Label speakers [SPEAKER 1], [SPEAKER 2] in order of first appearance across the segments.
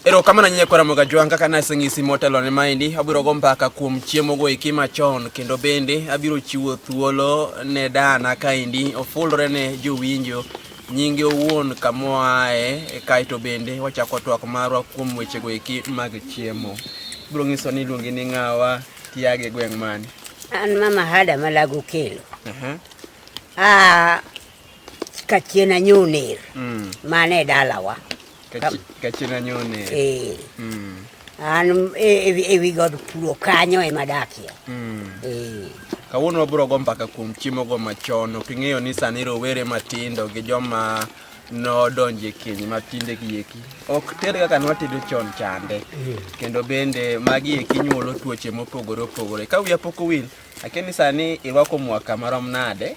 [SPEAKER 1] erokamano nyinye kwa ramoga jwang kaka naseng'isi motelo ne maendi abiro go mbaka kuom chiemo go eki machon kendo bende abiro chiwo thuolo ne dana kaendi ofulre ne jowinjo nyinge owuon kamoae kaeto bende wachako twak marwa kuom weche go eki mag chiemo biro ng'iso ni iluongi ni ng'awa tiage gweng' mane an mama
[SPEAKER 2] hada malago kelo uh -huh. ah, Kachien Anyoner mm. mane dalawa Kachien
[SPEAKER 1] Anyoner eh. mm.
[SPEAKER 2] an e, e, e wi god puro kanyo ema dakie mm. eh.
[SPEAKER 1] Kawuono wabiro go mbaka kuom chiemogo machon ok ing'eyo ni sani rowere matindo gi joma nodonje keny matinde gi eki ok ter kaka nwatedo chon chande mm. kendo bende magi eki nyuolo tuoche mopogore opogore ka wiya pok owil akeni sani irwako mwaka marom nade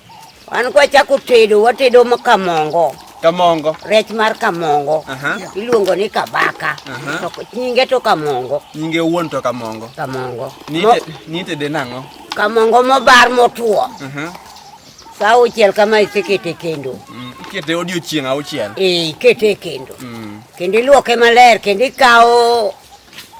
[SPEAKER 2] An kwa chako tedo, watedo ma kamongo. Kamongo. Rech mar kamongo. Aha. Iluongo ni kabaka. Aha. To ko- nyinge to kamongo. Nyinge wuon to
[SPEAKER 1] kamongo. Kamongo. Mo- Nite nite de nang'o? kamongo mobar motwo.
[SPEAKER 2] Aha. Sa auchiel kama isekete e kendo. Mm, Ikete odiochieng'
[SPEAKER 1] auchiel. Eh, ikete e kendo.
[SPEAKER 2] Mm. Kendo iluoke maler, kendo ikawo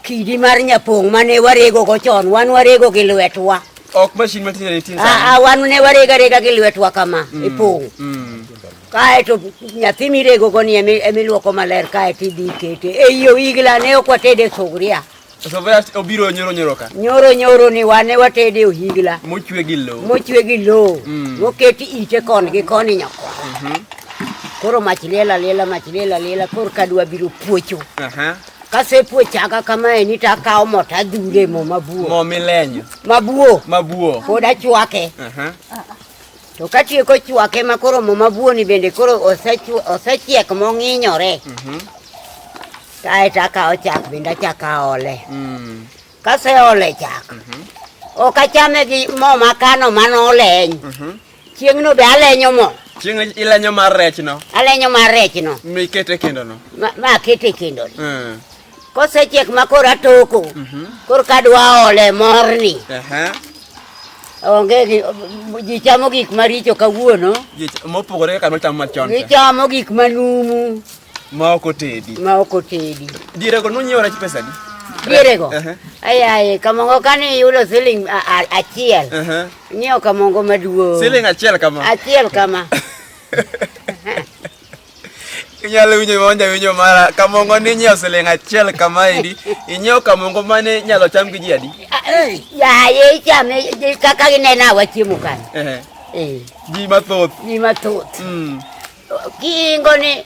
[SPEAKER 2] Kidi mar nyapong' mane warego go chon, wan warego gi lwetwa. Ok mashin ma tinde
[SPEAKER 1] nitie sani. Aa, wan ne warega
[SPEAKER 2] rega gi lwetwa kama mm. e pong'. Mm. Kae to nyathi mirego go ni emiluoko maler kae to idhi ikete. E iyo igla ne ok watede sugria. Sovea obiro
[SPEAKER 1] nyoro nyoro ka. Nyoro nyoro ni wane
[SPEAKER 2] watede ohigla. Mochwe gi lowo.
[SPEAKER 1] Mochwe gi lowo. Mm.
[SPEAKER 2] Moketi ite kon gi koni nyako. Mhm. Mm koro mach lela lela mach lela lela koro kadwa biro puocho uh -huh. Kasepue chaka kamae ni takawo mo tadhure mo mabuo. Mo milenyo.
[SPEAKER 1] Mabuo. Mabuo.
[SPEAKER 2] Pod achwake. Aha. To katieko chwake ma koro mo mabuo ni bende koro osechu- osechiek mong'inyore. Mhm. Kae takawo chak bende achako aole. Mm. Kaseole chak. Ok achame gi mo makano manoleny. Mhm. Chieng'no be alenyo mo. Chieng' ilenyo mar
[SPEAKER 1] rech no. Alenyo mar rech no.
[SPEAKER 2] Mi ikete e kendo no.
[SPEAKER 1] Ma, ma akete e kendo
[SPEAKER 2] no. Mm. Kosechiek ma koro atoko. Mm -hmm. Koro kadwa ole morni. Uh -huh. Onge gi ji chamo gik maricho kawuono. Ji mopogore kaka
[SPEAKER 1] nochamo machon. Gichamo gik
[SPEAKER 2] manumu. ma ok
[SPEAKER 1] otedi ma ok otedi dierego nonyiewo rech pesa di dierego
[SPEAKER 2] ayaye kamongo kane iyudo siling achiel nyiewo kamongo maduong siling achiel kama
[SPEAKER 1] achiel kama inyalo winjo mawanja winjo mara kamongo ni nyiewo siling achiel kamaendi inyiewo kamongo mane nyalo cham gi ji adi yaye
[SPEAKER 2] ichame kaka gineno awa chiemo kanyo ji
[SPEAKER 1] mathoth ji mathoth mm.
[SPEAKER 2] Kiingo ni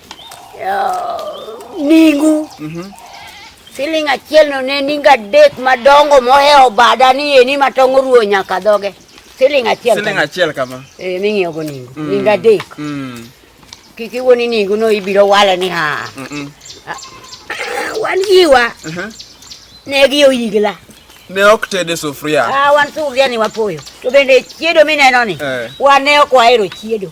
[SPEAKER 2] uh, ningu mm -hmm. siling achiel no ne ninga adek madongo mohewo bada ni eni ma tong' oruo nyaka dhoge siling achiel siling achiel kama eh ming'iewo
[SPEAKER 1] go ningu
[SPEAKER 2] mm. ninga adek mm. kik iwuo ni ningu no ibiro wale ni ha mm -mm. Ah, wan giwa uh -huh. ne gi oyigla ne ok ted
[SPEAKER 1] e sufuria ah, wan sufuria ni
[SPEAKER 2] wapoyo to bende chiedo mineno ni eh. wan ne ok wahero chiedo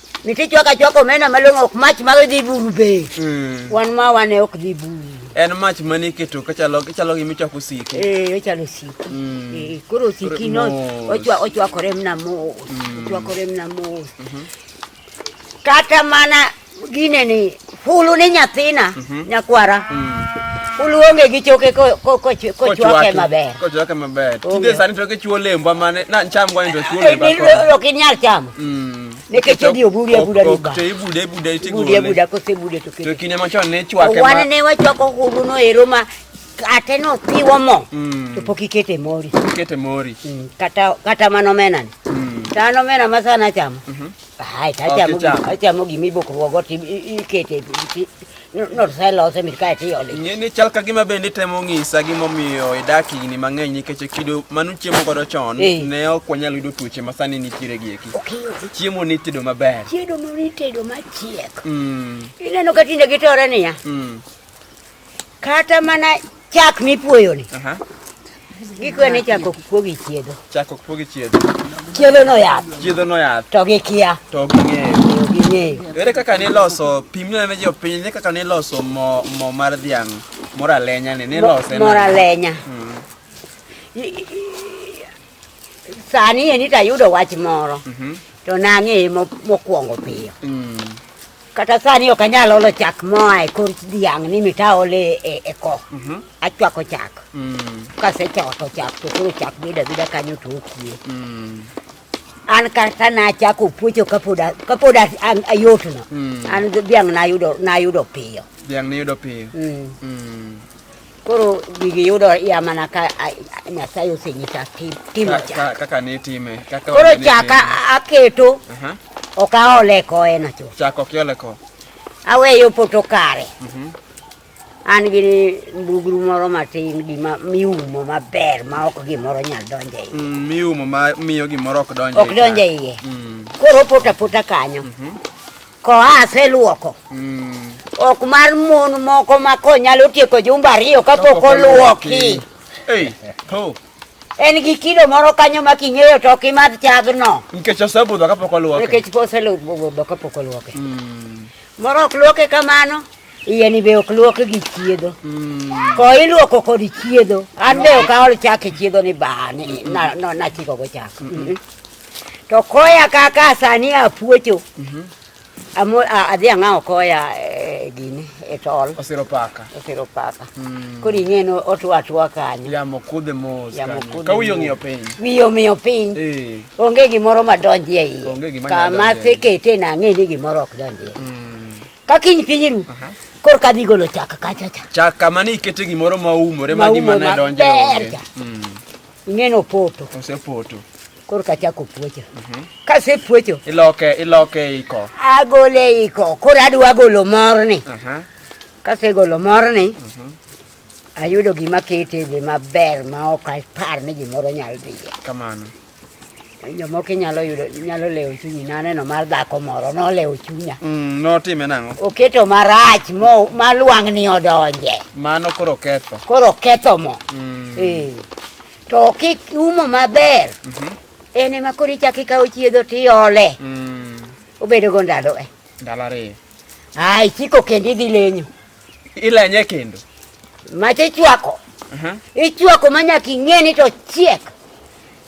[SPEAKER 2] Nitie chwaka chwaka omena malong'o ok mach mag dhi buru be. Mm. Wan ma wane ok dhi buru. En mach mane
[SPEAKER 1] iketo kachalo kachalo gima ichwako osiki. Eh, ochalo osiki. Mm. Eh,
[SPEAKER 2] koro osiki no ochwa ochwakore mna mos. Mm. Ochwakore mna mos. Mm-hmm. Kata mana gine ni Hulu ni nyathina mhm. nyakwara mm. Hulu onge gi choke kochwake maber. Kochwake maber. Tinde
[SPEAKER 1] sani to kichuo lembwa mane na cham kwa ndo chuo lembwa. Eh, ok inyal chamo.
[SPEAKER 2] Mm. Nikech odi obudi abuda ni ba. Te ibude ibude itigole.
[SPEAKER 1] Ibude abuda kose
[SPEAKER 2] ibude to kinde. To kinde machon ne chwake ma.
[SPEAKER 1] Wan ne wachwako hulu
[SPEAKER 2] no ero ma kate no tiwo mo. Mm. To pok ikete
[SPEAKER 1] mori.
[SPEAKER 2] Ikete mori. Mm. Kata
[SPEAKER 1] kata mano
[SPEAKER 2] menani. Mm. Tano mena masana chamo. Mhm. Hai, sai chamo gi, sai
[SPEAKER 1] chamo gi mi boko wogo
[SPEAKER 2] ti ikete ti. No sai lo se mi kai ti oli. Ni ni chal ka gima bende
[SPEAKER 1] temo ng'isa gima omiyo idak higni mang'eny nikech kido manu chiemo godo chon ne ok wanyal yudo tuoche ma sani nitiere gi eki. Chiemo ni tedo maber. Chiemo ni tedo
[SPEAKER 2] machiek. Mm. Ineno ka tinde gitore niya. Mm. Kata mana chak mipuoyo ni. Aha. Gikwe ni chak ok puogi chiedho. Chak ok puogi chiedho.
[SPEAKER 1] Chiedho no yath.
[SPEAKER 2] Chiedho no yath. To gi
[SPEAKER 1] kia. To
[SPEAKER 2] gi ng'eyo. To
[SPEAKER 1] gi ng'eyo. Ere kaka
[SPEAKER 2] ni loso
[SPEAKER 1] pim ne jo piny ne kaka ni loso mo mo mar dhiang' mora lenya ni ni lose. Mora lenya. Hmm.
[SPEAKER 2] Sani eni to ayudo wach moro mhm. to nang'eye mokwongo piyo. Mm. Kata sani ok anyal olo chak moa e kor dhiang' ni mitaole e, e ko. Mhm. Achwako chak. Mm. Kasechwako chak to koro chak bedo abeda kanyo to okie. Mm. An kata nachako puocho kapod kapod ayotno. An dhiang' nayudo nayudo piyo. Dhiang' niyudo piyo.
[SPEAKER 1] Koro
[SPEAKER 2] gigi yudo ya mana ka Nyasaye osenyisa timo chaka. Kaka ne time.
[SPEAKER 1] Kaka Koro chaka
[SPEAKER 2] aketo. Aha. Ok aole koe na chuth. Chaka ok iole ko.
[SPEAKER 1] Aweyo
[SPEAKER 2] poto kare. Mhm. An gi mbugru moro matin gima miumo maber ma ok gimoro nyal donjo e iye. Mm, miumo ma miyo
[SPEAKER 1] gimoro ok donjo e iye. Ok donjo e iye. Mm.
[SPEAKER 2] Koro pota pota kanyo. Mhm. Koa aseluoko. Mm. Ok mar mon moko ma ko nyalo tieko jumba ariyo kapok oluoki. Hey, ho.
[SPEAKER 1] En
[SPEAKER 2] gi kilo moro kanyo ma king'eyo to ok imadh chagno. Nikech osebudho kapok
[SPEAKER 1] oluoke. Nikech po osebudho
[SPEAKER 2] kapok oluoke. Mm. Moro ok luoke kamano. Iye ni be ok luok gi chiedho. Mm. Ko iluoko kod chiedho. An be ok aol chak e chiedho ni bani. Mm. Na, no, na chiko go chak. Mm -hmm. To koya kaka sani apuocho. Mhm. Amo adhi ang'awo koya e gini e tol. Osiro paka. Osiro
[SPEAKER 1] paka. Mm.
[SPEAKER 2] Koro ing'e no otwa atwa kanyo. Yamo kudhe mos.
[SPEAKER 1] Yamo kudhe. Ka wiyo ng'iyo piny. Wiyo ng'iyo piny.
[SPEAKER 2] Eh. Onge gimoro madonji e iye. Onge gimoro madonji. Kama sekete na ng'e ni gimoro ok donji. Mm. Ka kiny piny ru. Uh -huh. Kor ka dhi golo chak kacha cha. Chak kama ni ikete
[SPEAKER 1] gimoro ma umore ma gima ne donjo. Maumore maber cha. Mm. Ing'eno
[SPEAKER 2] poto. Osepoto.
[SPEAKER 1] Koro kachako
[SPEAKER 2] puocho. Mhm. Kase puocho. Iloke, iloke
[SPEAKER 1] iko. Agole iko.
[SPEAKER 2] Koro adwa golo morni. Mhm. Kase golo morni. Mhm. Ayudo gima kete be maber ma ok apar ni gimoro nyal dhiye. Kamano. jomoko inyalo yudo inyalo lewo chunyi naneno mar dhako moro nolewo chunya mm, notime nang'o
[SPEAKER 1] oketo marach
[SPEAKER 2] mo malwang'ni odonje mano koro
[SPEAKER 1] ketho koro ketho mo
[SPEAKER 2] mm. e. to kik umo maber mm -hmm. en ema koro ichako ikawo chiedho tiole mm. obedogo ndalo e ndalo ariyo
[SPEAKER 1] ai chiko
[SPEAKER 2] kendo idhi lenyo Ila yenyewe
[SPEAKER 1] kendo. Mache
[SPEAKER 2] chwako. Mhm. Uh -huh. Ichwako manya king'eni to chiek.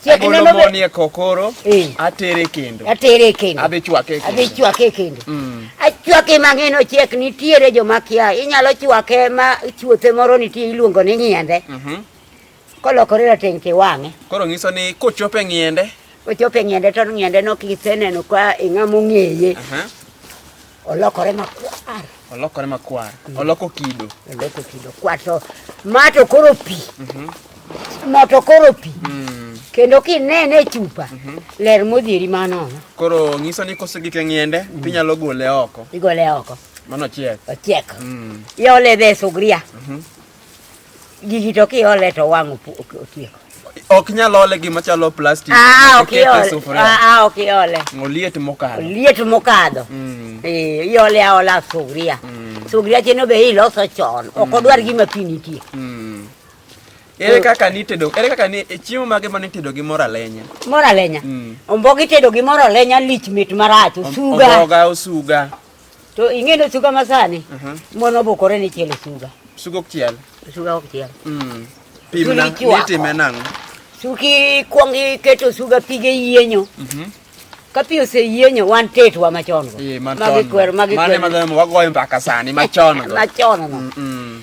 [SPEAKER 2] Chiek neno
[SPEAKER 1] be. Monie kokoro. Eh. Atere kendo. Atere kendo. Adhi chwake kendo. Adhi chwake
[SPEAKER 2] kendo. Mm. Achwake mang'eni ochiek nitiere joma kia. Inyalo chwake ma chuothe moro nitie iluongo ni nyende. Mhm. Uh -huh. Kolokore rateng' tiwang'e. Koro ng'iso ni
[SPEAKER 1] kochope ng'iende. Kochope ng'iende to
[SPEAKER 2] ng'iende no kiseneno ka ing'ama ong'eye. Olokore makwar. Olokore makwar. Mm. Oloko kido. Oloko kido. Kwato. Mato koro pi. Mhm. Mato koro pi. Mm. Kendo kinene chupa. Mhm. Ler modhieri mano. Koro ng'iso ni
[SPEAKER 1] kosegike ng'iende mm. tinyalo gole oko. Igole oko.
[SPEAKER 2] Mano chiek.
[SPEAKER 1] Ochiek.
[SPEAKER 2] Iole dhe sugria. Mhm. Gigi to kiole to wang' opu- ok- otieko. Ok nyal
[SPEAKER 1] ole gima chalo plastic. Ah, ok Ikete e iole. sufuria.
[SPEAKER 2] Ah, ah, ok iole. Oliet mokalo.
[SPEAKER 1] Liet mokadho.
[SPEAKER 2] Mm. Eh, iole aola sugria. Sugria cheno be iloso chon. Ok odwar gima pi nitie. Mm.
[SPEAKER 1] Ere kaka nitedo? Ere kaka ni e chiemo mage ma nitedo gi mor alenya? Moro alenya. Mm.
[SPEAKER 2] Omboga itedo gi moro alenya lich mit marach. Om- Osuga. Omboga, osuga.
[SPEAKER 1] To
[SPEAKER 2] ing'e ni osuga masani Mhm. mon obukore ni chielo suga. Suga ok chiel.
[SPEAKER 1] Osuga ok chiel.
[SPEAKER 2] Mm. Pim Chuli na
[SPEAKER 1] ichwako. nitime nang'o? Suki
[SPEAKER 2] kwong iketo suga pige yienyo. Mhm. Ka pi oseyienyo wan tetwa machon go. Ee, machon. Magi kwer magi Mane kwer.
[SPEAKER 1] madhano wagoyo mbaka sani machon go. Machon no. Mm, mm.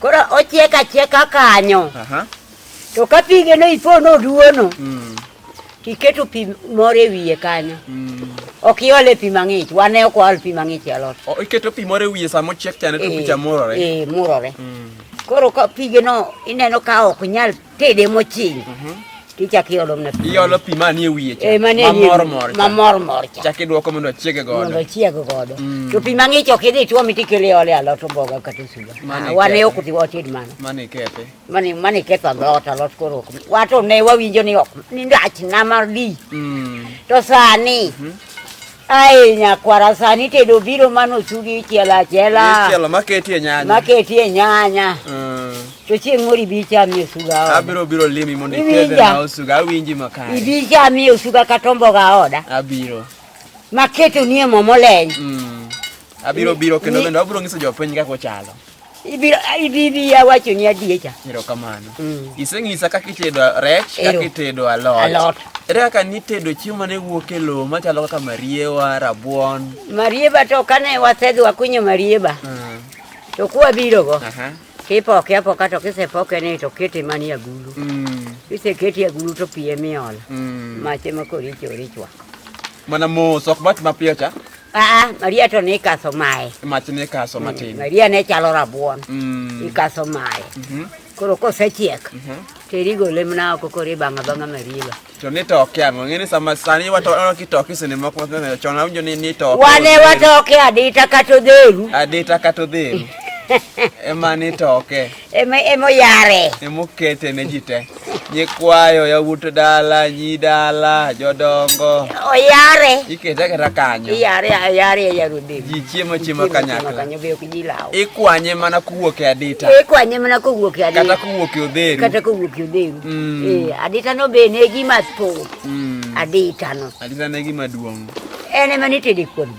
[SPEAKER 2] Koro ochiek achieka kanyo. Aha. To ka pige no ipo no duono. Mm. Tiketo pi moro e wiye kanyo. Mm. Ok iole pi mang'ich. Wane ok waol pi mang'ich e alot. O, iketo pi moro e wiye
[SPEAKER 1] sama ochiek chane to Eh, picha murore. Eh, murore. Mm.
[SPEAKER 2] Koro ka pige no ineno ka ok nyal Tede mochiny. Mhm. Tichak iolo mna pi. Iolo pi mani e wiye cha.
[SPEAKER 1] Eh, mani e wiye. Mamor mor. Mamor
[SPEAKER 2] mor cha. Chak iduoko mondo ochiege godo.
[SPEAKER 1] Mondo ochiege godo. Mm. To pi mang'ich
[SPEAKER 2] ok idhi tuomi tikele ole alot omboga kata osuga. Ah, wan e ok wated mano. Mani kethe.
[SPEAKER 1] Mani mani ketho
[SPEAKER 2] alot alot koro ok. Wato ne wawinjo ni ok. Ni ndach na mar di. Mm. To sani. Mm -hmm. Ae nyakwara sani tedo biro mano ochugi ichielo achiela. Ichielo maketie
[SPEAKER 1] nyanya. Maketie nyanya.
[SPEAKER 2] Mm. To chieng' moro ibi ichamie osuga oda. Abiro biro limi mondo
[SPEAKER 1] itedhe na osuga awinji makare. Ibi ichamie osuga
[SPEAKER 2] kata omboga oda. Abiro.
[SPEAKER 1] Maketo
[SPEAKER 2] nie mo moleny. Mm.
[SPEAKER 1] Abiro biro kendo bende abiro nyiso jopiny kaka ochalo. Ibiro ibi
[SPEAKER 2] bi ya wacho ni adiecha. Ero kamano. Mm.
[SPEAKER 1] Iseng'isa kaka itedo rech, kaka itedo alot. Alot. Ere kaka nitedo chiemo mane wuok e lowo machalo kaka mariewa, rabuon. Marieba to
[SPEAKER 2] kane wasedhi wakunyo marieba. Mm. To kuwa biro go. Aha. Kipoke apoka to kisepoke ni to kete mani agulu. Mm. Kisekete agulu to pie miol. Mm. Mache makori chori chwa. Mana
[SPEAKER 1] mos ok bat mapiyo cha. Aa, Maria to
[SPEAKER 2] ne ikaso mae. Mach ne kaso
[SPEAKER 1] matin. Maria ne chalo rabuon.
[SPEAKER 2] Mm. Ikaso mae. Mhm. Koro kosechiek, to irigo olemna oko koro ibang'a bang'a mariba. To ni toke
[SPEAKER 1] ang'o? Ng'eni sama sani wato ono kitoke sene moko wato chon awinjo ni ni toke. Wane watoke
[SPEAKER 2] adita kata odheru. Adita kata odheru. Ema
[SPEAKER 1] ni toke. ema ema oyare
[SPEAKER 2] ema okete ne
[SPEAKER 1] ji te nyikwayo yawuot dala nyi dala jodongo oyare
[SPEAKER 2] ikete aketa kanyo
[SPEAKER 1] iyare ayare e
[SPEAKER 2] yaro dhi ji chiemo chiemo
[SPEAKER 1] kanyakla kanyo be ok ji lawo
[SPEAKER 2] ikwanye mana kowuok
[SPEAKER 1] e adita ikwanye mana kowuok
[SPEAKER 2] e adita kata kowuok e odheru
[SPEAKER 1] kata kowuok e odheru mm. eh adita no
[SPEAKER 2] be ne gima thoth mm. adita no adita ne gima
[SPEAKER 1] duong' en ema nitede
[SPEAKER 2] kuon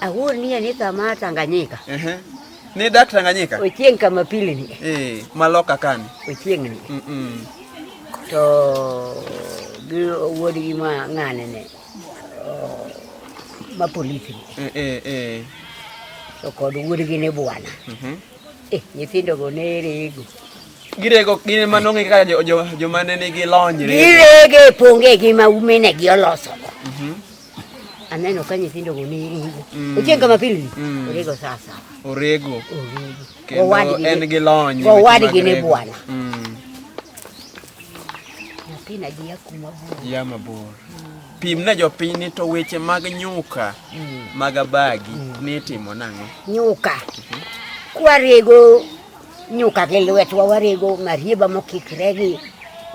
[SPEAKER 2] Awuonie ni thama Tanganyika. Ehe. Ni
[SPEAKER 1] dak Tanganyika? Ochieng kama pili ni.
[SPEAKER 2] Eh, maloka kani.
[SPEAKER 1] Ochieng ni. Mm -mm.
[SPEAKER 2] To gi wuod gi ma ng'ane ne. Oh, ma polisi. Eh eh eh. To kod wuod gi ne bwana. Mhm. Mm eh, nyithindo go ne rego. Girego
[SPEAKER 1] gin ma nong'e kaka jo jo, jo ma ne nigi lony. Girege ponge
[SPEAKER 2] gi ma umene gi oloso. Mhm. Mm Aneno ka nyithindo go ni ringo. Mm. Ochieng kama pilni. Mm. Orego sasa. Orego.
[SPEAKER 1] Orego. Kendo en gi lony. Owadgi ne bwana.
[SPEAKER 2] Mm. Nyathina ji ya kuma bor. Ya mabor.
[SPEAKER 1] Mm. Pim ne jopiny ni to weche mag nyuka mm. mag abagi mm. nitimo nang'o? Nyuka. Mm
[SPEAKER 2] -hmm. Kwarego Nyuka gi lwet wa warego marieba mokikre gi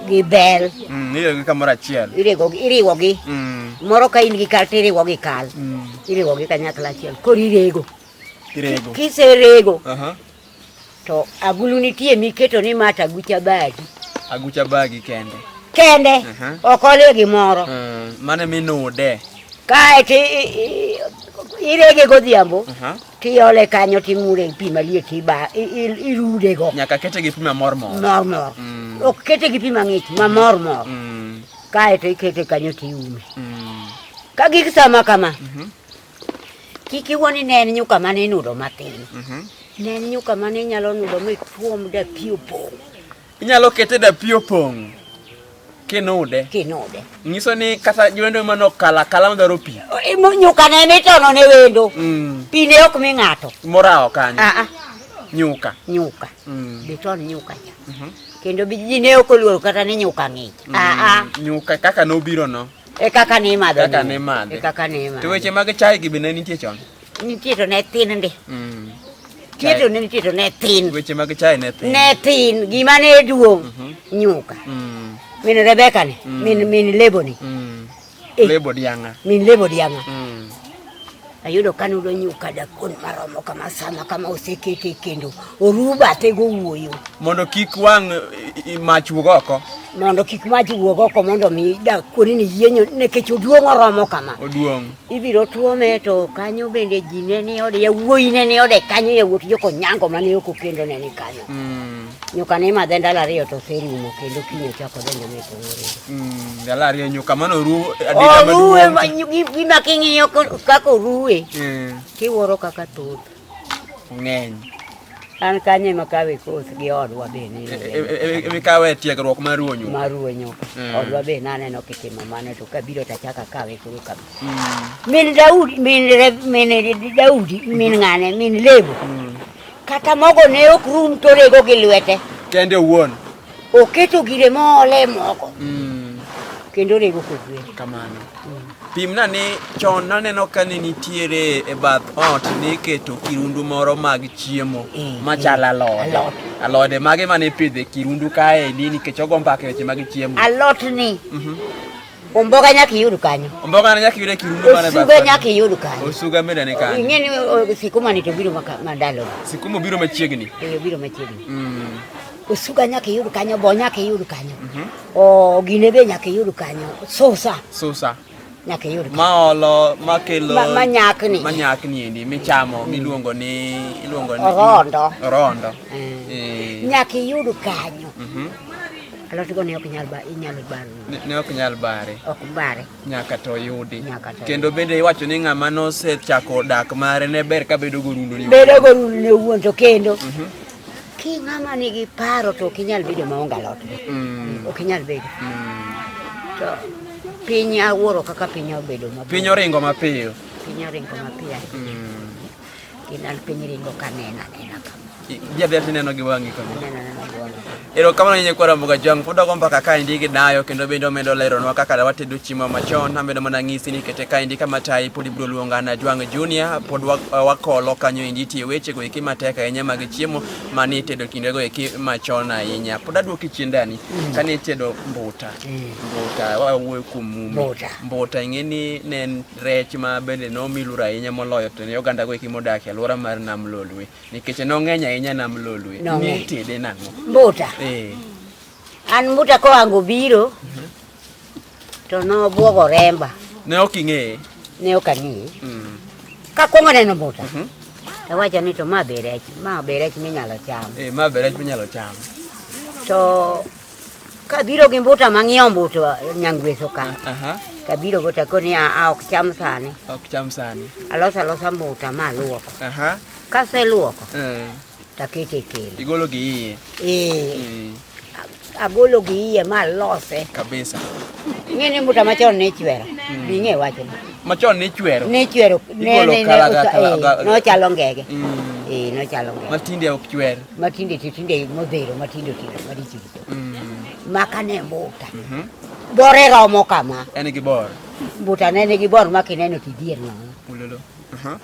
[SPEAKER 2] gi bel. Mm, iriwo gi kamoro
[SPEAKER 1] achiel. Iriwo gi iriwo gi.
[SPEAKER 2] Mm. Moro ka in gi kal to iriwo gi kal. Mm. Iriwo gi kanyakla achiel. Koro irego. Irego. Kiserego. Uh -huh. To agulu nitie miketo ni ma tagucha bagi. Agucha bagi
[SPEAKER 1] kende. Kende. Uh -huh.
[SPEAKER 2] Ok ole gimoro. Mm. Mane
[SPEAKER 1] minude. Kae to
[SPEAKER 2] irege godhiambo. Uh -huh. Tiole kanyo timure pi maliet tiba irudego. Nyaka kete gi pi mamor
[SPEAKER 1] mor. Mor mor. Mm.
[SPEAKER 2] Ok kete gi pi mang'ich mamor mor. Mm. Kae to ikete kanyo tiume. Mm. Ka gik sama kama. Mhm. Kik iwoni ne en nyuka mane inudo matin. Mhm. Ne en nyuka mane inyalo nudo mi tuom da pi opong'. Inyalo kete
[SPEAKER 1] da pi opong' kinude. Kinude. Nyiso ni kata jolendo mano kala kala madwaro pi. E, nyuka ne
[SPEAKER 2] mitono ne wendo. Mm. Pi ne ok mi ng'ato. Morawo kanyo. Ah,
[SPEAKER 1] ah. Nyuka. Nyuka. Mm.
[SPEAKER 2] Biton nyuka cha. Mm -hmm. Kendo ji ne ok oluoro kata ni nyuka ng'ich. Mm. Ah, ah. Nyuka
[SPEAKER 1] kaka nobiro no. E kaka ne imadho.
[SPEAKER 2] Kaka ne imadhe. E kaka ne imadhe.
[SPEAKER 1] To weche mag chai gi be ne nitie chon. Nitie to ne
[SPEAKER 2] thin ndi. Mm. Nitie to ne nitie to ne thin. Weche mag chai ne thin.
[SPEAKER 1] Ne thin gima
[SPEAKER 2] ne duong' mhm. nyuka. Mm. Min Rebeka ni, mm. min min lebo ni. Mm.
[SPEAKER 1] Eh. Lebo
[SPEAKER 2] dianga. Min lebo dianga. Mm. Ayudo kanudo nyuka dakon maromo kama sama kama osekete kendo oruba te go wuoyo. Mondo kik wang'
[SPEAKER 1] mach wuog oko. Mondo kik mach
[SPEAKER 2] wuog oko mondo mi dakon ni yienyo nekech oduong' oromo kama. Oduong'. ibiro
[SPEAKER 1] tuome
[SPEAKER 2] to kanyo bende ji ne ni ode yawuoyi ne ni ode kanyo yawuot joko nyango mane ok okendo ne ni kanyo mm. nyuka ne madhe ndalo ariyo to oserumo kendo kiny ochako donjo ne kongore mm, ndalo ariyo nyuka
[SPEAKER 1] mano oru oruwe
[SPEAKER 2] gima king'iyo kaka oruwe mm. kiwuoro kaka thoth ng'eny.
[SPEAKER 1] An
[SPEAKER 2] kanye ema kawe koth gi odwa be ni. E, e, e, emi kawe
[SPEAKER 1] tiegruok mar ruonyo. Mar ruonyo. Mm. Odwa
[SPEAKER 2] be naneno kitimo mano to kabiro to achaka kawe koro kabe. Mm. Min Daudi, min min Daudi, min ng'ane, min Lebo. Mm. Kata mogo ne ok rum to rego gi lwete. Kende owuon.
[SPEAKER 1] Oketo
[SPEAKER 2] gire mole moko. Kendo rego kogwe. Kamano.
[SPEAKER 1] Pimna ni chon naneno ka ne nitiere e bath ot niketo kirundu moro mag chiemo mm, machal mm. alode alode mage mane ipidho e kirundu kaendi nikech ogo mbaka weche mag chiemo alot ni mhm.
[SPEAKER 2] omboga nyaka iyud kanyo omboga nyaka iyud e kirundu
[SPEAKER 1] mane bath osuga nyaka iyud kanyo
[SPEAKER 2] osuga mene ne kanyo ing'e
[SPEAKER 1] ni sikuma ni
[SPEAKER 2] to biro mandalo sikuma biro machiegni
[SPEAKER 1] eh biro machiegni
[SPEAKER 2] mm. Osuga nyaka iyud kanyo, bo nyaka iyud kanyo. Mm -hmm. O gine be nyaka iyud kanyo. Susa. Susa. Nyaka iyud kanyo. Ma olo, ma
[SPEAKER 1] kelo. Ma, ma nyakni. Ma nyakni
[SPEAKER 2] endi, michamo,
[SPEAKER 1] mm. miluongo ni, iluongo ni. Rondo. Rondo. Mm. E.
[SPEAKER 2] Nyaka iyud kanyo. Mm -hmm. Alot go ne ok nyal ba, inyalo baro. Ne ok nyal bare. Ok bare. nyaka to yudi
[SPEAKER 1] kendo bende iwacho ni ng'ama nosechako dak mare ne ber ka bedo gorundo ni bedo gorundo ne wuon
[SPEAKER 2] to kendo mhm. ki ng'ama nigi paro to ok inyal bedo maonge alot mm. ok inyal bedo mm. to piny awuoro kaka piny obedo mapiyo piny oringo mapiyo
[SPEAKER 1] piny oringo mapiyo mm.
[SPEAKER 2] Kinal piny ringo kanena nena kama. Bia bia
[SPEAKER 1] tineno gi wang'i kama. Nena nena gi wang'i. Erokamano nyinyi kwa Ramoga Jwang' pod agombo mbaka ka indi gi dayo kendo bende omedo leronwa kaka da watedo chiemo machon amedo mana ng'isi ni kete ka indi kama tayi pod ibiro luonga na Jwang' Junior pod wa- wakolo kanyo indi tie weche go eki matek ahinya mag chiemo mane itedo kinde go eki machon ahinya pod aduoki chien dani kane itedo mbuta mbuta wawuoyo kuom mumi Mbuta. mbuta ing'e ni ne en rech ma bende nomi lura ahinya moloyo to ne oganda goeki modak e alwora mar nam lolwe nikech nong'eny ahinya nam lolwe Nong'eny. nitede nang'o mbuta
[SPEAKER 2] Eh, an mbuta koango biro to nobwogo remba ne ok ing'eye
[SPEAKER 1] ne ok ang'eye
[SPEAKER 2] Mm, kakwongo neno mbuta Mhm. tawacho ni to ma be rech ma be rech minyalo cham eh, ma be rech minyalo
[SPEAKER 1] cham to
[SPEAKER 2] Kabiro gi mbuta mang'iewo mbuta nyangweso ka. Aha. Kabiro gota ko ni a ok cham sani. Ok cham sani. Alosa losa mbuta ma luoko. Aha. Kase luoko. Eh. Takete kele. Igolo gi iye.
[SPEAKER 1] Eh. Mm. Agolo
[SPEAKER 2] gi iye ma lose. Kabisa.
[SPEAKER 1] Ng'ene mbuta
[SPEAKER 2] machon ne chwero. Mm. Bing'e wacho. Machon ne chwero.
[SPEAKER 1] Ne chwero. Ne ne ne. Eh,
[SPEAKER 2] nochalo ngege. Mm. Eh, nochalo ngege. Matinde ok chwero.
[SPEAKER 1] matinde titinde
[SPEAKER 2] modhero matindo tindo marichito mm. makane mbuta mhm. bore romo kama en gi bor
[SPEAKER 1] mbuta ne nigi
[SPEAKER 2] bor ma kineno tidhier nono uh-huh.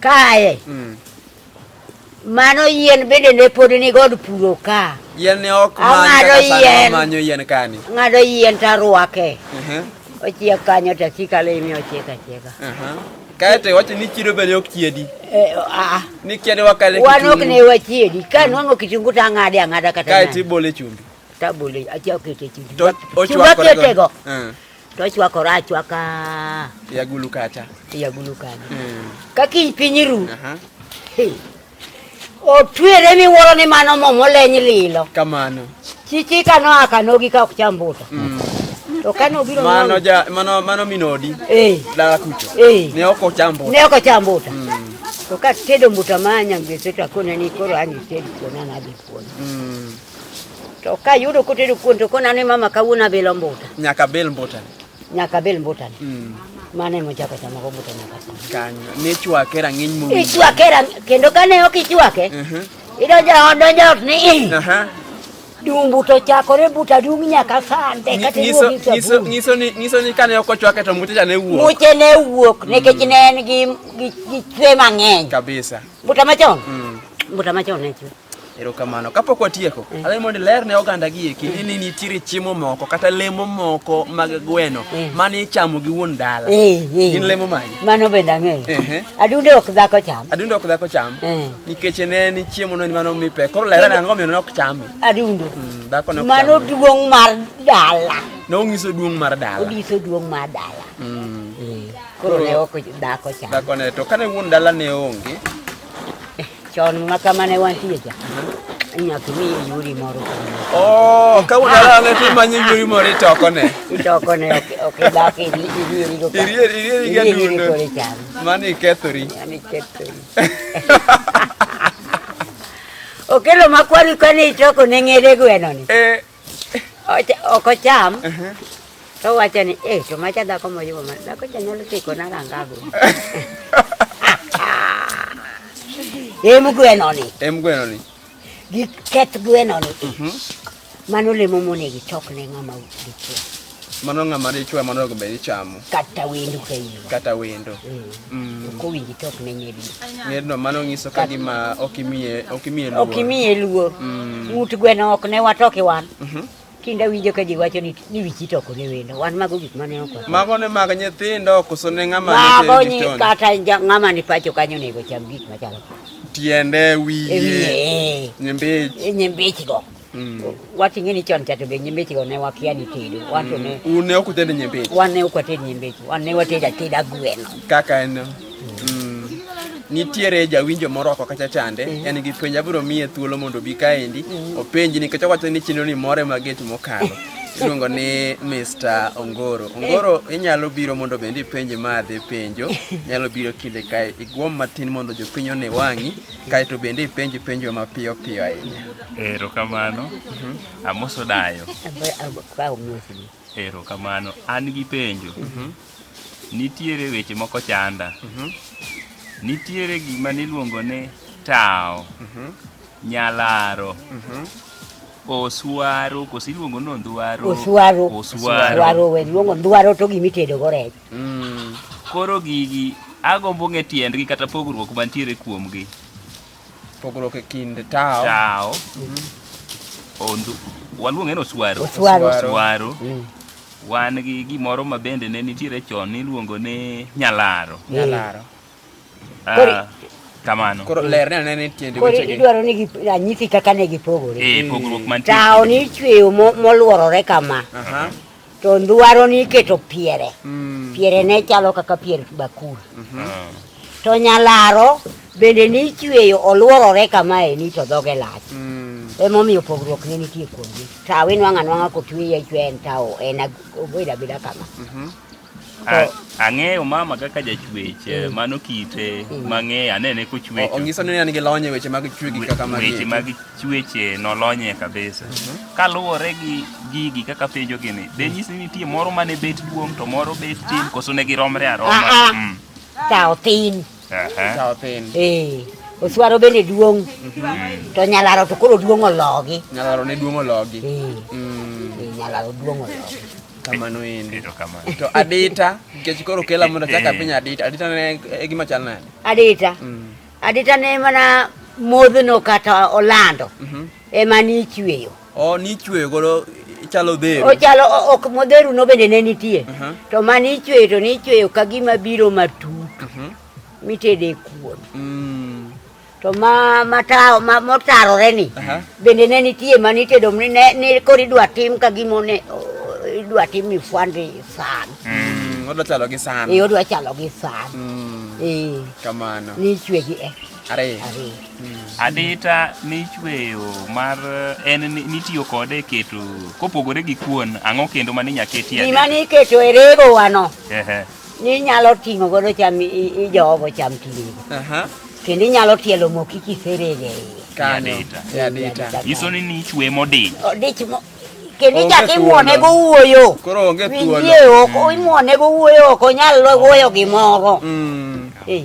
[SPEAKER 2] kae mm. mano yien bende ne pod ni god puro ka yien ne ok
[SPEAKER 1] ng'ado yien manyo yien kani ng'ado yien
[SPEAKER 2] tarwake uh-huh. ochiek kanyo tasikale imi ochiek achieka uh-huh. Kae
[SPEAKER 1] to iwacho ni chiedo bende ok chiedi. Eh, ah, ah. Ni chiede wakale kitungu. Wan ok ne wachiedi.
[SPEAKER 2] Ka mm. nwang'o kitungu to ang'ade ang'ada kata nani. Kae to ibole chumbi.
[SPEAKER 1] To abole, achia
[SPEAKER 2] okete chumbi. To ochwakore go. Chumbi mm. To ochwakore achwaka. Yagulu kacha.
[SPEAKER 1] Yagulu kacha. Mm. Ka kiny
[SPEAKER 2] piny ru. Aha. Uh -huh. Otwere miwuoro ni mano momo leny lilo. Kamano.
[SPEAKER 1] Chichika noa
[SPEAKER 2] kanogi ka ok cham mbuta. Mm. To kane obiro mano ja mano mano
[SPEAKER 1] minodi. Eh. Dala kucho. Eh. Ne ok ocham mbuta. Ne ok ocham mbuta. Mm. To ka
[SPEAKER 2] tedo mbuta manya ngese to akona ni koro ani tedo kona na bi kuon. Mm. To ka yudo kotedo kuon to kona ni mama kawuona bilo mbuta. Nyaka bil mbuta.
[SPEAKER 1] Nyaka bel mbutani.
[SPEAKER 2] Mm. Mane mochako chama go mbuta nyaka sani. Kanyo. Ne
[SPEAKER 1] chwake rang'iny mo. Ichwake rang'iny kendo
[SPEAKER 2] kane ok ichwake. Uh -huh. Idonjo ot donjo ot ni. Uh -huh. Dumbu to chakore buta dung nyaka sande kata iwuok e nyiso
[SPEAKER 1] nyiso ni nyiso ni kane ok ochwake to mbuta ne wuok. Mbuta ne wuok mm.
[SPEAKER 2] nikech ne en gi gi chwe mang'eny. Kabisa.
[SPEAKER 1] Buta machon.
[SPEAKER 2] Mm. Buta machon ne chwe.
[SPEAKER 1] Erokamano. Kapok watieko, mm. adhi mondo ler ne oganda gi eki mm. ni nitiere chiemo moko kata lemo moko mag gweno mm. mane ichamo gi wuon dala. Eh, eh. Gin lemo magi. Mano bende ang'eyo. Eh,
[SPEAKER 2] Adunde ok dhako cham. Adunde ok dhako cham.
[SPEAKER 1] Nikech ne ni chiemo no mano mipe. Koro ler ne ang'o miyo nok chame. Adunde. Dhako
[SPEAKER 2] nok chame. Mano
[SPEAKER 1] duong' mar
[SPEAKER 2] dala. Ne onyiso duong'
[SPEAKER 1] mar dala. Onyiso duong' mar dala.
[SPEAKER 2] Koro ne ok dhako cham. Dhako ne to kane wuon
[SPEAKER 1] dala ne onge
[SPEAKER 2] Chon ma kama ne wantie cha. Nyaka mi yuri moro. Oh,
[SPEAKER 1] ka una la ne tu manyi yuri moro itoko ne. Itoko ne
[SPEAKER 2] ok dak iri iri iri go. Iri iri iri ga dundo.
[SPEAKER 1] Mani kethori. Mani kethori.
[SPEAKER 2] Okelo makwari kani itoko ne ngere gweno ni. Eh. ok ocham to wacho ni eh to macha dhako moyubo ma dhako cha nyalo tiko na rangago em gweno ni em gweno ni gi keth gweno ni mano lemo monego ichok ne ng'ama dichuo Mano ng'ama
[SPEAKER 1] dichwe mano onego bed ichamo. Kata wendo ka in.
[SPEAKER 2] Kata wendo.
[SPEAKER 1] Mm. mm. Ko
[SPEAKER 2] winji tok ne nyedi. Ngedno mano ngiso
[SPEAKER 1] ka gima ok imiye ok imiye luor. Ok imiye luor.
[SPEAKER 2] Mm. Mut gweno ok ne watoki wan. Mhm. Kinda winjo ka ji wacho ni ni wichi to ko ne wendo. Wan mago gik mane oko. Mago ne mag nyithindo
[SPEAKER 1] koso ne ng'ama ne tedi. Mago ni kata
[SPEAKER 2] ng'ama ni pacho kanyo nego cham gik machalo. Tiende
[SPEAKER 1] wiye. Nyimbechi.
[SPEAKER 2] Nyimbechi go. Mm. Wating'e ni chon cha to be nyimbichi ne wakia ni tedo. Wan to ne mm. ne ok utedo nyimbichi.
[SPEAKER 1] Wan ne ok watedo nyimbichi.
[SPEAKER 2] Wan ne watedo ateda gweno. Kaka en.
[SPEAKER 1] Mm. Nitiere jawinjo moro oko kacha chande, mm. en gi penjo abiro miye thuolo mondo obi kaendi mm. openji nikech owacho ni chenro ni more maget mokalo. iluongo ni Mr. Ongoro. Ongoro inyalo biro mondo bende ipenje madhi penjo, nyalo biro kinde kae igwom matin mondo jopiny one wang'i kae to bende ipenj penjo mapiyo piyo ahinya. Erokamano.
[SPEAKER 3] Mhm. Amoso dayo. Erokamano. An gi penjo. Mhm. Nitiere weche moko chanda. Mhm. Nitiere gima niluongo ni tawo, nyalaro, oswaro, koso iluongo ni ondwaro. Oswaro. Oswaro.
[SPEAKER 2] Oswaro, we luongo ondwaro to gima itedogo rech. Mm, koro
[SPEAKER 3] gigi agombo ng'e tiendgi kata pogruok mantiere kuomgi.
[SPEAKER 1] Pogruok e kind tao. Tao.
[SPEAKER 3] Ondu. Waluonge no swaro. Swaro. Swaro.
[SPEAKER 2] Mm. Wan
[SPEAKER 3] gi gimoro ma bende ne nitiere chon niluongo ni nyalaro. Nyalaro. Ah, kamano. Koro ler ne anene
[SPEAKER 1] tiende Koro wechegi. idwaro ni gi-
[SPEAKER 2] ranyisi kaka ne gipogore. Eh, pogruok mantie. Tawo
[SPEAKER 3] ni ichweyo mo-
[SPEAKER 2] moluorore kama, Aha. to ndwaro ni iketo piere. Mm. Piere ne chalo kaka pier bakul. Ah, To nyalaro bende ni ichweyo oluorore kama e ni to dhoge lach. Mm. Emomiyo pogruok ne nitie kuomgi. Tawo inwang'o anwang'a kochweye ichweyo en tawo en ag- obedo abeda kama. Mhm. Ang'eyo
[SPEAKER 3] mama kaka jachwech, eh, mm. mano kite mm. mang'eyo, anene kochwecho. Onyiso ni an gi lony e
[SPEAKER 1] weche mag chwegi kaka magi. Weche mag chweche
[SPEAKER 3] nolonye kabisa. Mhm. Kaluwore gi gigi kaka penjo gini, de mm. nyisi ni nitie moro mane bet duong' to moro bet tin, koso ne giromre aroma. Ah, ah. Kawo
[SPEAKER 2] tin. Ehe. Sawa pin.
[SPEAKER 1] Eh. Oswaro
[SPEAKER 2] bende duong'. Mhm. To nyalaro to koro duong' ologi. Nyalaro ne duong' ologi.
[SPEAKER 1] Eh. Mm. Eh,
[SPEAKER 2] nyalaro duong' ologi. Kamano endi.
[SPEAKER 1] To adita nikech koro kela mondo chaka eh. piny adita. Adita ne e gima chal nade? Adita. Mm.
[SPEAKER 2] Adita ne mana modhno kata olando. Mhm. Ema ni ichweyo. Oh, nichweyo godo
[SPEAKER 1] chalo dhero. Ochalo o- ok modheru
[SPEAKER 2] no bende ne nitie. Mhm. To mane ichweyo to nichweyo ka gima biro matut Mhm. mitede kuon. Mm. To ma mata ma motarore ni Aha. bende ne nitie mane itedo ni ne ni koro idwa tim ka gima ne o- idwa tim ni fwande san. Mm. Odwa chalo
[SPEAKER 1] gi san. Ee odwa chalo gi san.
[SPEAKER 2] Mm. Ee
[SPEAKER 1] Kamano. nichwegi
[SPEAKER 2] e.
[SPEAKER 1] Ariyo. Ariyo.
[SPEAKER 3] Adita michweyo mar en ni- nitiyo kode e keto kopogore gi kuon ang'o kendo ma ninya ketie Gima adita? niketo e rego
[SPEAKER 2] wano Ehe. ni inyalo ting'o godo cham i- i- ijowogo cham tigo. Aha. Kendo inyalo tielo moki kiserege iye. Kanyo. Adita. E
[SPEAKER 3] adita. Nyiso ni nichwe modiny. Odich mo
[SPEAKER 2] kendo Onge ichak imwone thuolo. go wuoyo. Koro onge thuolo. Winjie
[SPEAKER 1] oko imwone
[SPEAKER 2] go wuoyo ok onyal wuoyo gimoro. Mm. Eh.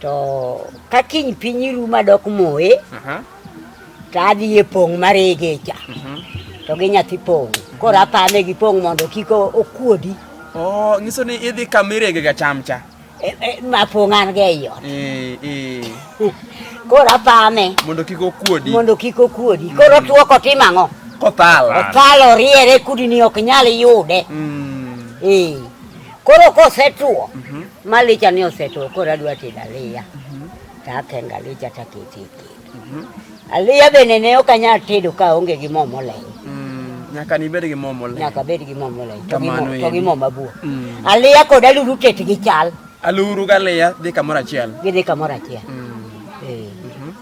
[SPEAKER 2] to ka kiny piny ru madok moye to adhi e pong' marege cha mhm. to gi nyathi pong' koro apame gi pong' mondo kik okuodi oh, nyiso
[SPEAKER 1] ni idhi kamirege ga cham cha e, e, ma pong'
[SPEAKER 2] an ga ei ot koro apame mondo kik okuodi
[SPEAKER 1] mondo kik okuodi koro
[SPEAKER 2] mm. tuo kotim ang'o kothal othal oriere kudini ok nyal yude mm. ee Koro kosetuo mm -hmm. malicha ni osetuo koro adwa tedo aliya mm -hmm. to akengo alicha to akete e kendo mm -hmm. aliya bende ne ok anyal tedo ka onge gi mo moleny mm, nyaka ni
[SPEAKER 1] bed gi mo moleny nyaka bed gi mo moleny
[SPEAKER 2] to gi mo to gi mo mabua mm. aliya kod aluru tet gi chal aluru ga aliya
[SPEAKER 1] dhi kamoro achiel gi dhi kamoro achiel
[SPEAKER 2] mm. eh. mm -hmm.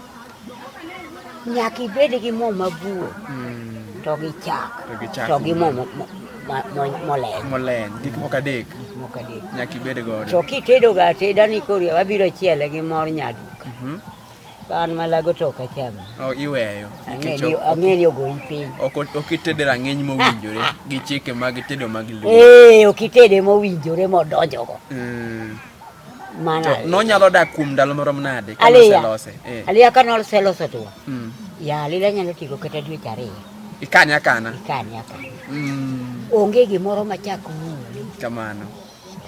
[SPEAKER 2] Nyaka ibed gi mo mabuo hmm. to gi chak to gi mo moleny. Moleny, gik moko adek.
[SPEAKER 1] Moko adek. Nyaka ibed godo. To kitedo ga ateda
[SPEAKER 2] ni kori wabiro chiele gi mor nyaduka. Mhm. An malago to ok acham. Oh, iweyo.
[SPEAKER 1] Ang'e ni
[SPEAKER 2] ogoyi piny. Ok itede
[SPEAKER 1] rang'iny mowinjore gi chike mag tedo mag luo. Eh, ok itede
[SPEAKER 2] mowinjore modonjogo. Mm. Mana. To nonyalo dak
[SPEAKER 1] kuom ndalo marom nade ka noselose?
[SPEAKER 2] Eh. Aliya ka noselose to. Mm. Ya alila nyalo tigo kata dwe ariyo. Ikane akana. Ikane
[SPEAKER 1] akana. Mm. Onge
[SPEAKER 2] gimoro machak muli. Kamano.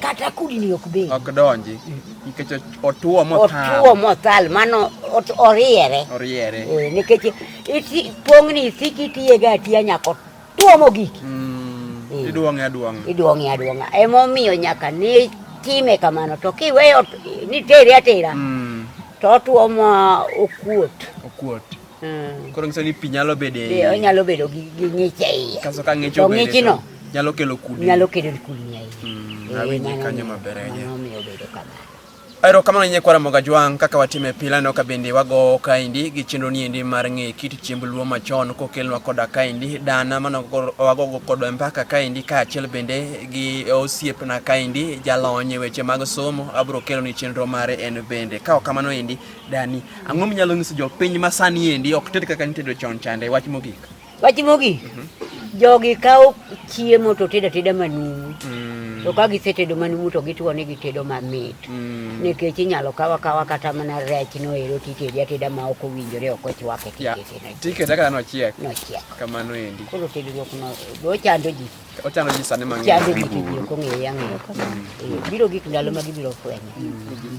[SPEAKER 1] Kata kudni
[SPEAKER 2] ok be. Ok donji.
[SPEAKER 1] Nikech otuo mothal. Otuo mothal
[SPEAKER 2] mano oriere. Oriere. Eh, nikech pongni isiki tiye ga tiya nyako Tuomo giki. Mm, eh. iduong'e
[SPEAKER 1] aduong'a. Iduong'e
[SPEAKER 2] aduong'a. Emomiyo nyaka ni time kamano to kiweyo ni teri atera. Mm. To otuomo okuot. Okuot. Mm.
[SPEAKER 1] Koro nyiso ni pi nyalo bedo e. Onyalo bedo gi
[SPEAKER 2] ng'ich e iye. Kaso ka ng'ich obede. To ng'ichno.
[SPEAKER 1] Nyalo kelo
[SPEAKER 2] kudni.
[SPEAKER 1] Nyalo kelo kudni e iye.
[SPEAKER 2] Mm. Awinji kanyo
[SPEAKER 1] maber ahinya. Omiyo bedo kamano.
[SPEAKER 2] Erokamano ne
[SPEAKER 1] Nyakwar Ramogi Ajwang' kaka watime pile no kabende wagowo kaendi gi chenro niendi mar ng'e kit chiemb luo machon kokelnwa koda kaendi dana mano wagogo kod mpaka kaendi kaachiel bende gi osiepna kaendi jalony e weche mag somo abro kelo ni chenro mare en bende ka kamano endi dani ang'o minyalo nyiso jopiny masani endi ok ted kaka nitedo chon chande wach mogik Wach mogik, mhm. jogi
[SPEAKER 2] kawo chiemo to tedo ateda manumu. Mm. To ka gisetedo manumu to gituo ni gitedo mamit. Mm. Nikech inyalo kawa kawa kata mana rech no ero titedi ateda ma ok owinjore ok ochwake tikete. Tikete kaka
[SPEAKER 1] no chiek. No chiek. Kamano endi. Koro tedruok no
[SPEAKER 2] ochando ji. Ochando ji sani mang'eny.
[SPEAKER 1] Chando ji tiyo kong'eyo
[SPEAKER 2] ang'eyo. Mm. Biro gik ndalo ma gibiro fwenyo.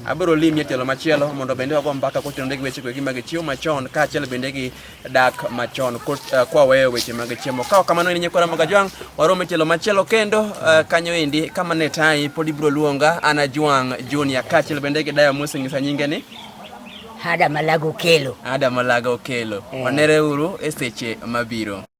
[SPEAKER 2] Abiro limie
[SPEAKER 1] tielo machielo mondo bende wago mbaka kotenore gi weche gi mag chiwo machon kaachiel bende gi dak machon eh, kwaweyo weche mag chiemo kawa kamano en nyikwara mag ajwang' warom e tielo machielo kendo eh, kanyo endi kama ne tayi pod ibiro luonga an ajwang' junior kaachiel bende gi dayo moseng'isa nyinge ni ada malago
[SPEAKER 2] kelo
[SPEAKER 1] ada malago
[SPEAKER 2] kelo eh.
[SPEAKER 1] wanereuru
[SPEAKER 2] e seche
[SPEAKER 1] mabiro